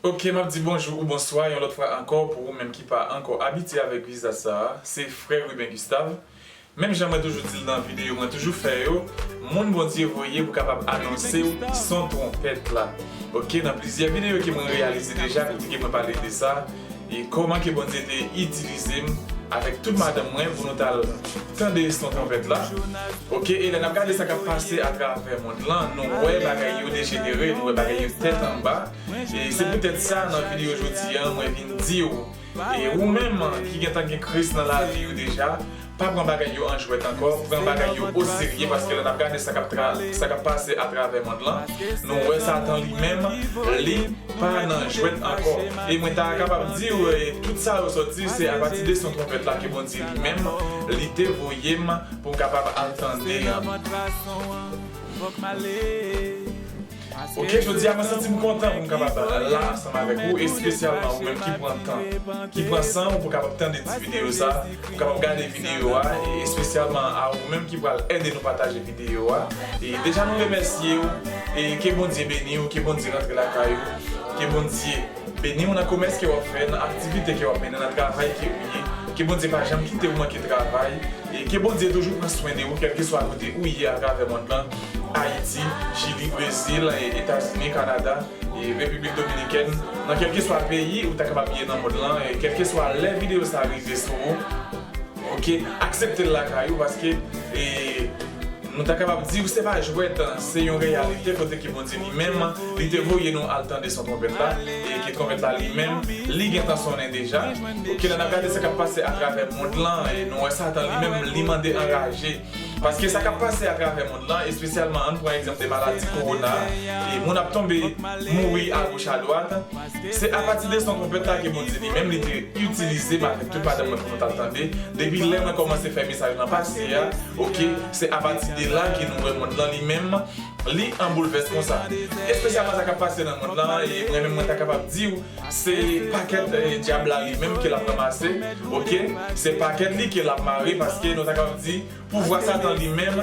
Ok map di bonjou ou bonswa yon lòt fwa ankò pou ou menm ki pa ankò abitye avèk viza sa a se frè Ruben Gustave menm jan mwen toujou dil nan videyo mwen toujou fè yo moun Bondye voye pou kapab anonsew son twonpèt la ok nan plizyè videyo ke mwen reyalize deja kote ke mwen pale de sa. E kòman ke Bondye te itilize m avèk tout madanm mwen pou nou t al tande son twonpèt la. Ok, e lè n ap gade sa k ap pase atravè mond lan, nou wè bagay yo dejenere, nou wè bagay yo tèt anba. E se poutèt sa, nan videyo jodi an, mwen vin di w, e ou menm ki gentan gen Kris nan lavi ou deja, Pa pran bagay yo an jwèt ankò, pran bagay yo o serye paske lè n ap gade sa k ap sa k ap pase atravè mond lan, nou wè Satan li menm li pa nan jwèt ankò. E mwen ta kapab di w tout sa yo sòti se apati de son twonpèt la ke Bondye li menm li te voye m pou m kapab al tande an. Ok jodi a mwen santim kontan pou m kapab la ansanm avèk ou espesyalman ou menm ki pran tan ki pran san ou pou kapab tande ti videyo sa pou kapab gade videyo a e espesyalman a ou menm ki pral ede nou pataje videyo a e deja nou remèsye ou e ke Bondye beni ou ke Bondye rantre lakay ou ke Bondye beni ou nan komès ke wap fè nan aktivite ke wap mennen nan travay ke ou ye ke Bondye pa janm kite ou manke travay e ke Bondye toujou pran swen de ou kèlkeswa kote ou ye atravè mond lan. Ayiti, Chili, Brezil, Etazini, Kanada, Repiblik Dominikèn, nan kèlkeswa peyi ou ta kapab ye nan mond lan, kèlkeswa lè videyo sa rive sou ou, ok, aksepte l lakay ou paske nou ta kapab di ou se pa jwèt, se yon reyalite kote ke Bondye li menm li te voye nou al tande son twonpèt la e ke twonpèt la li menm li gentan sonnen deja, ok, lè n ap gade sa k ap pase atravè mond lan nou wè Satan li menm li mande anraje. Paske sa kap pase atravè mond lan, espesyalman ann pran egzanp de maladi kowona, e moun ap tonbe, mouri agoch adwat, se apati de son twonpèt la ke Bondye li menm li te itilize m avèk tout madanm mwen pou nou t al tande, depi lè mwen kòmanse fè mesaj lan pase a, ok, se apati de la ke nou wè mond lan li menm li an boulvès konsa. Espesyalman sa kap pase nan mond lan, e mwen menm mwen ta kapab di w, Se pakèt dyab la li menm ke lap ranmase ok se pakèt li ke lap mare paske nou ta kapab di pouvwa satan li menm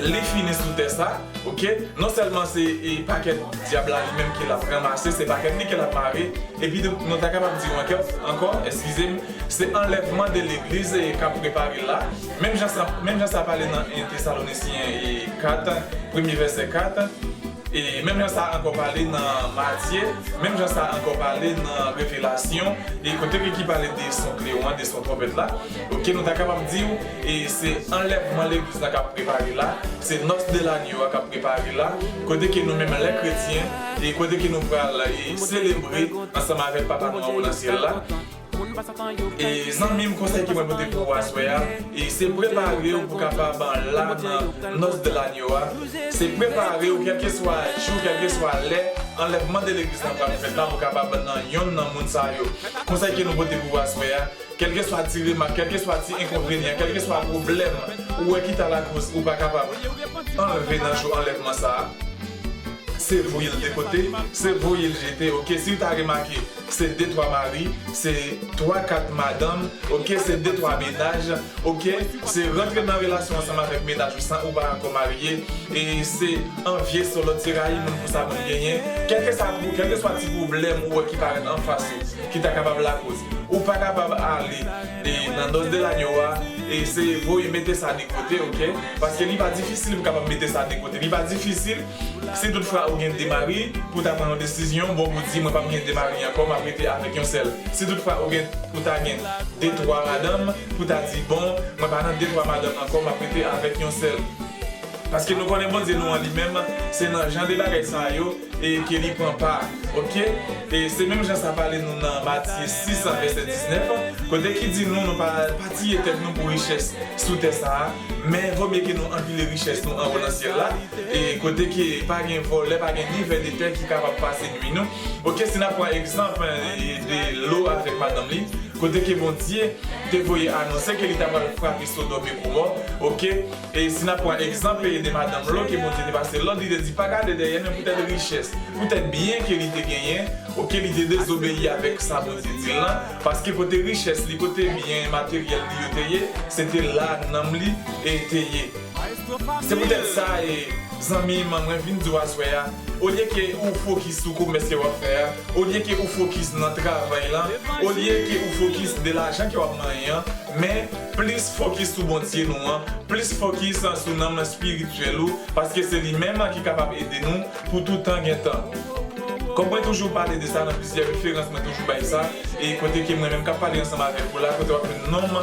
li fini sou tè sa ok non sèlman se pakèt dyab la li menm ke lap ranmase se pakèt li ke lap mare epi tou nou ta kapab di ankò eskizem se anlèvman de legliz kap prepare la menm jan sa pale nan 1 Tesalonisyen 4 premye vèsè 4. E menm jan sa ankò pale nan Matye, menm jan sa ankò pale nan Revelasyon, e kote ke ki pale de son klewon an, de son twonpèt la, ok, nou ta kapab di ou, e se anlèvman legliz la k'ap prepare la, se nòs de lanyo a k'ap prepare la, kote ke nou menm lè kretyen, e kote ke nou pral e selebre ansanm avèk Papa nou anwo nan syèl la. E zanmim konsèy ke mwen pote pou ou aswè a e se preparew pou kapab la nan nòs de lagno a se preparew kèlkeswa jou kèlkeswa lè anlèvman de legliz la pral fèt la pou kapab nan yonn nan moun sa yo konsèy ke nou pote pou ou aswè a kèlkeswa ti remak kèlkeswa ti enkonvenyan kèlkeswa pwoblèm ou wè ki ta lakoz ou pa kapab anlve nan jou anlèvman sa se voyel de kote se voyel jete ok siw ta remake Se de twa mari, se twa kat madanm, ok, se de twa menaj, ok, se rantre nan relasyon ansanm avèk menaj ou san ou pa ankò marye, e se anvye solòt, se rayi moun pou sa moun genyen, kèlkesa pou, kèlkeswa ti pwoblèm ou wè ki parèt anfas ou, ki ta kapab lakoz. Ou pa kapab ale e nan Dos del Año a e se voye mete sa de kote, ok, paske li pa difisil pou kapab mete sa de kote, li pa difisil. Si tout fwa ou gen 2 mari, pou ta pran yon desizyon, bon ou di mwen pap gen 2 mari ankò map rete avèk yon sèl. Si tout fwa ou gen ou ta gen 2 3 madanm, pou ta di bon mwen pa nan 2 3 madanm ankò map rete avèk yon sèl. Paske nou konnen Bondye nou an li menm se nan jan de bagay sa a yo e ke li pran pa ok e se menm jan sa pale nou nan Matye 6 vèsè 19 kote ki di nou nou pa pa tiye tèt nou pou richès sou tè sa a Men vò mye ke nou anpile richès nou anwo nan syèl la, e kote ke pa gen vòlè, pa gen ni vè de tè ki kapab pase nui nou. Ok, si n'ap pran egzanp de Lo avèk madanm li, kote ke Bondye te voye anonse ke li ta pral frape Sodòm e Gomò, ok, e si n'ap pran egzanp de madanm Lo ke Bondye te pase lòd, li te di pa gade dèyè men poutèt richès, poutèt byen ke li te genyen, ok, li te dezobeyi avèk sa Bondye di l lan, Paske kote richès li, kote byen materyèl li yo te ye, se te la nanm li e te ye. Se poutèt sa e, zanmi m, mwen vin di w aswè a, olye ke ou fokis sou komès ke w ap fè a, olye ke ou fokis nan travay lan, olye ke ou fokis de lajan ke w ap manyen an, men, plis fokis sou Bondye nou an, plis fokis sou nanm espirityèl ou, paske se li menm ki kapab ede nou, Pou tout tan gen tan. Kòm mwen toujou pale de sa nan plizyè referans mwen toujou bay sa, e kote ke mwen menm kap pale ansanm avèk ou la kote wap jwenn nonm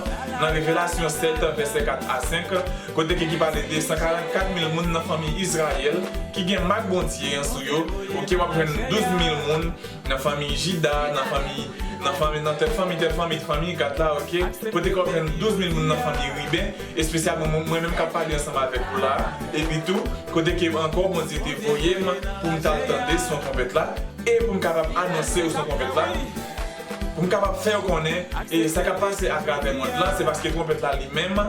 nan Revelasyon 7 vèsè 4 a 5 kote ke ki pale de 144 mil moun nan fanmi Izrayèl ki gen mak Bondye an sou yo ok wap jwenn 12 mil moun Nan fanmi Jida, nan fanmi, nan fanmi, nan tèl fanmi, tèl fanmi, t fanmi, gad la, ok, kote kòw jwenn douz mil moun nan fanmi Riben, espesyalman moun mwen menm kap pale ansanm avèk ou la a, epi tou, kote ke ankò Bondye te voye m pou m tal tande son twonpèt la, e pou m kapab anonse yo son twonpèt la, pou m kapab fè yo konnen, e sa kap pase atravè mond lan, se paske twonpèt la li menm,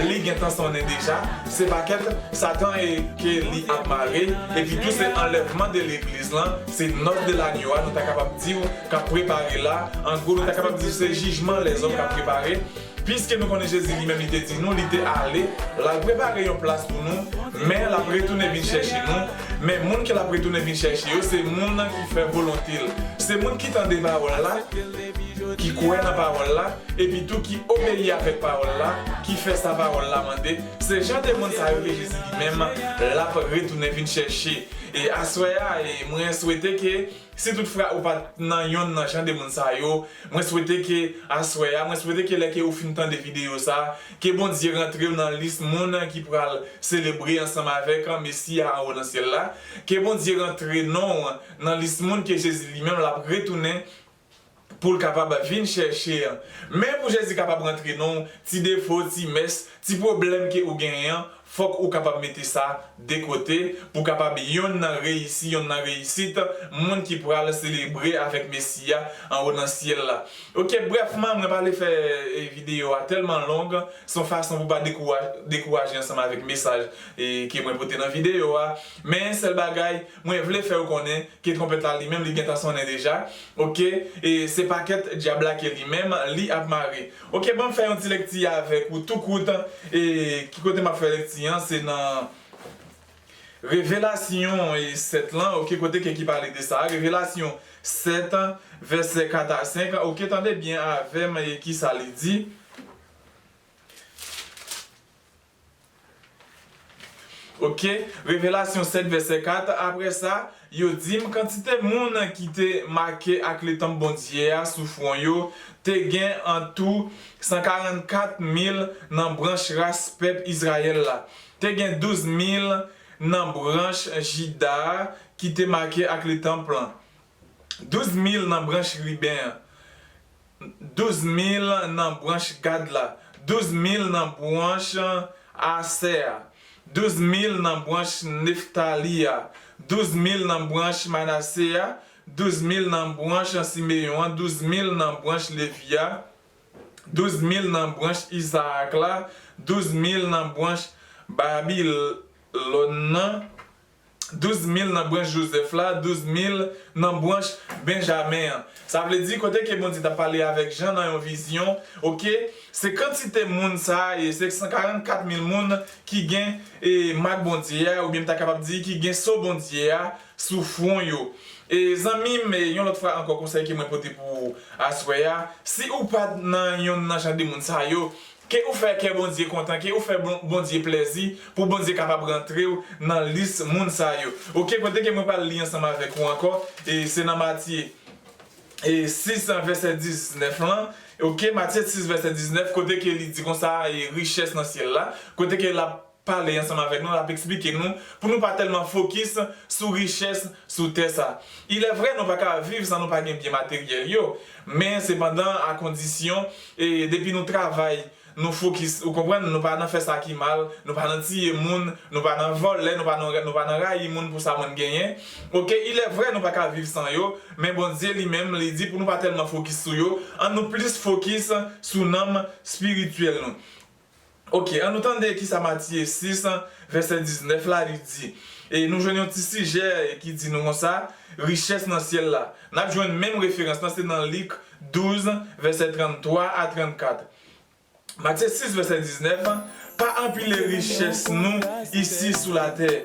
li gentan sonnen deja, se pakèt Satan e ke li ap mare, epi tou se anlèvman de legliz lan, Se Nòt de Lagno a nou ta kapab di w k ap prepare la. An gwo, nou ta kapab di se jijman lèzòm k ap prepare. Piske nou konnen Jezi li menm li te di nou li te ale, l al prepare yon plas pou nou, men l ap retounen vin chèche nou. Men, moun ke l ap retounen vin chèche yo se moun ki fè volonte l. Se moun ki tande pawòl la, ki kwè nan pawòl la, epitou ki obeyi avèk pawòl la, ki fè sa pawòl la mande. Se jan de moun sa yo ke Jezi li menm l ap retounen vin chèche. E aswè a e mwen swete ke si tout fra ou pat nan yonn nan jan de moun sa yo mwen swete ke aswè a mwen swete ke lè ke ou fin tande video sa ke Bondye rantrew nan lis moun ki pral selebre ansanm avèk Mesi a anwo nan syèl la ke Bondye rantre nonw nan lis moun ke Jezi li menm lap retounen pou l kapab vin chèche. Men pou Jezi kapab rantre nan w, ti defo, ti mès, ti pwoblèm ke ou genyen an, fòk ou kapab mete sa de kote, pou kapab yonn nan reyisi, yonn nan reyisit, moun ki pral selebre avèk Mesi a anwo nan syèl la. Ok, brèfman, mwen pa vle fè videyo a tèlman long, se yon fason pou pa dekouraje ansanm avèk mesaj ke mwen pote nan videyo a, men sèl bagay, Mwen vle fè ou konnen ke tronpèt la li menm li gentan sonnen deja ok e se pakèt dyab la ke li menm li ap mare ok banm fè yon ti lekti avèk ou tou kout e ki kote map fè lekti an se nan revelasyon 7 lan ok kote ke ki pale de sa revelasyon 7 vèsè 4 a 5 ok tande byen avèm e kisa li di. Ok, Revelasyon 7 vèsè 4, Apre sa, yo di m, Kantite moun ki te make ak letanp Bondye a sou fwon yo te gen antou sankarannkat mil nan branch ras pèp Izrayèl la, te gen douz mil nan branch Jida a ki te make ak letanp lan, Douz mil nan branch Riben an, douz mil nan branch Gad la, douz mil nan branch Asè a, douz mil nan branch Neftali a, douz mil nan branch Manase a, douz mil nan branch Simeyon an, douz mil nan branch Levi a, douz mil nan branch Izarak la, douz mil nan branch Babilòn nan. Douz mil nan branch Jozèf la, douz mil nan branch Benjamen an. Sa vle di, kote ke Bondye t ap pale avèk Jan nan yon vizyon, oke, se kantite moun sa a ye, se 144 mil moun ki gen e mak Bondye a, oubyen m ta kapab di ki gen so Bondye a sou fwon yo. E, zanmi m, yon lòt fwa ankò konsèy ke mwen pote pou ou aswè a, si ou pa t nan yonn nan jan de moun sa yo, Ke ou fè kè Bondye kontan, ke ou fè Bondye plèzi, pou Bondye kapab rantrew nan lis moun sa yo. Ok kote ke mwen pral li ansanm avèk ou ankò e se nan Matye 6 vèsè 19 lan ok Matye 6 vèsè 19 kote ke li di konsa e richès nan syèl la kote ke lap pale ansanm avèk nou, l ap eksplike nou pou nou pa tèlman fokis sou richès sou tè sa. Ilèvre nou pa ka viv san nou pa gen byen materyèl yo, men sepandan akondisyon e depi nou travay, nou fokis ou konprann, nou pa nan fè sa ki mal, nou pa nan tiye moun, nou pa nan vòlè, nou pa nan nou pa nan rayi moun pou sa moun genyen ok. Ilèvre nou pa ka viv san yo, men Bondye li menm li di pou nou pa tèlman fokis sou yo, an nou plis fokis sou nanm spirityèl nou. Ok, an nou tande ki sa Matiye 6, vèsè 19 la, li di. E nou jwenn yon ti sijè ki di nou konsa, Richès nan syèl la. N ap jwenn menm referans lan, se nan Lik 12, vèsè 33 a 34. Matye 6, vèsè 19, Pa anpile richès nou isi sou latè,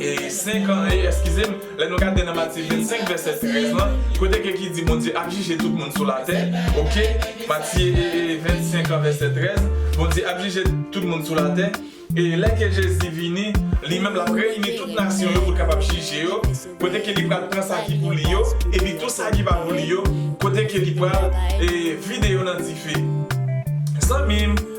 E 5 an e, eskize m, lè nou gade nan Matye 25 vèsè 13 lan, kote ke ki di Bondye ap jije tout moun sou latè, ok, Matye 25 an vèsè 13, Bondye ap jije tout moun sou latè, e lè ke Jezi vini, li menm l ap reyini tout nasyon yo pou l kapab jije yo, kote ke li pral pran sa ki pou li yo, epi tou sa ki pa pou li yo, kote ke li pral e vide yo nan dife. Zanmi m!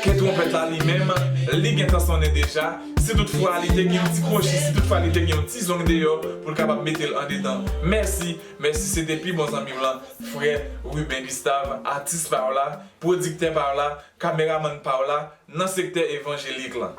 Ke twonpèt la li menm, li gen tan sonnen deja, si tout fwa li te gen yon ti kwochi, si tout fwa li te gen yon ti zong deyò, pou l kapab mete l andedan. Mèsi, mèsi se te pi bon zanmi m lan, frè Ruben Gustave, atis pa w la, pwodiktè pa w la, kameramann pa w la, nan sektè evanjelik lan.